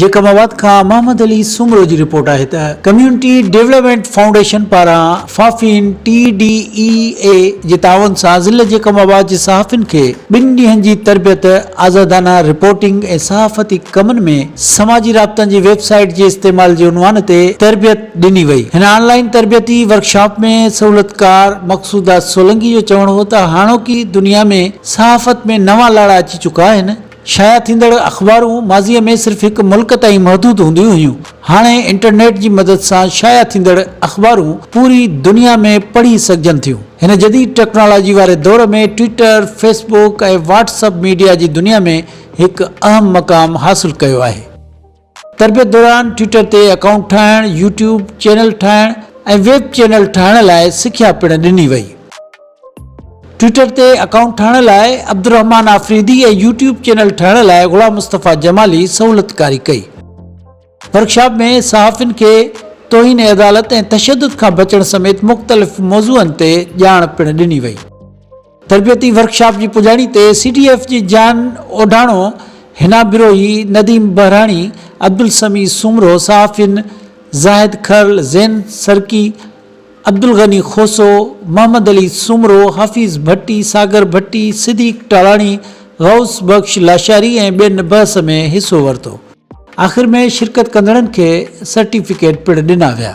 Jacob آباد کان محمد علي سومرو جي رپورٽ آهي ته ڪميونٽي ڊيولپمينٽ فائونڊيشن پاران FAFEN T D E A جي تعاون سان ضلعي جيڪب آباد جي صحافين کي ٻن ڏينهن جي تربيت آزادانه رپورٽنگ ۽ صحافتي ڪمن ۾ سماجي رابطن جي ويب سائيٽ جي استعمال جي عنوان تي تربيت ڏني وئي هن آن لائين تربيتي ورڪشاپ ۾ سهولتڪار مقصوده سولنگي جو چوڻ هو ته هاڻوڪي دنيا ۾ صحافت ۾ نوان لاڙا اچي چڪا آهن شايع ٿيندڙ اخبارون ماضيء ۾ صرف هڪ ملڪ تائين محدود هونديون هيون. هاڻي انٽرنيٽ جي مدد سان شايع ٿيندڙ اخبارون پوري دنيا ۾ پڙهي سگهجن ٿيون. هن جديد ٽيڪنالاجي واري دور ۾ Twitter, Facebook ۽ WhatsApp media جي دنيا ۾ هڪ اهم مقام حاصل ڪيو آهي. تربيت دوران ٽوئيٽر تي اڪائونٽ ٺاهڻ، يوٽيوب چينل ٺاهڻ ۽ ويب چينل ٺاهڻ لاء سکيا پڻ ڏني وئي. ٽوئيٽر تي اڪائونٽ ٺاهڻ لاء عبدالرحمان آفريدي ۽ يوٽيوب چينل ٺاهڻ لاء غلام مصطفيٰ جمالي سهولتڪاري ڪئي. ورڪشاپ ۾ صحافين کي توهين عدالت ۽ تشدد کان بچڻ سميت مختلف موضوعن تي ڄاڻ پڻ ڏني وئي. تربيتي ورڪشاپ جي پڄاڻي تي سي ڊي ايف جي جان اوڍاڻو، حنا بروهي، نديم بهراڻي، عبدالسميع سومرو، صحافين زاهد کرل، زين سرڪي، عبدالغني کوسو، محمد علي سومرو، حفيظ ڀٽي، ساگر ڀٽي، صديق ٽالاڻي، غوث بخش لاشاري ۽ ٻين بحث ۾ حصو ورتو. آخر ۾ شرڪت ڪندڙن کي سرٽيفڪيٽ پڻ ڏنا ويا.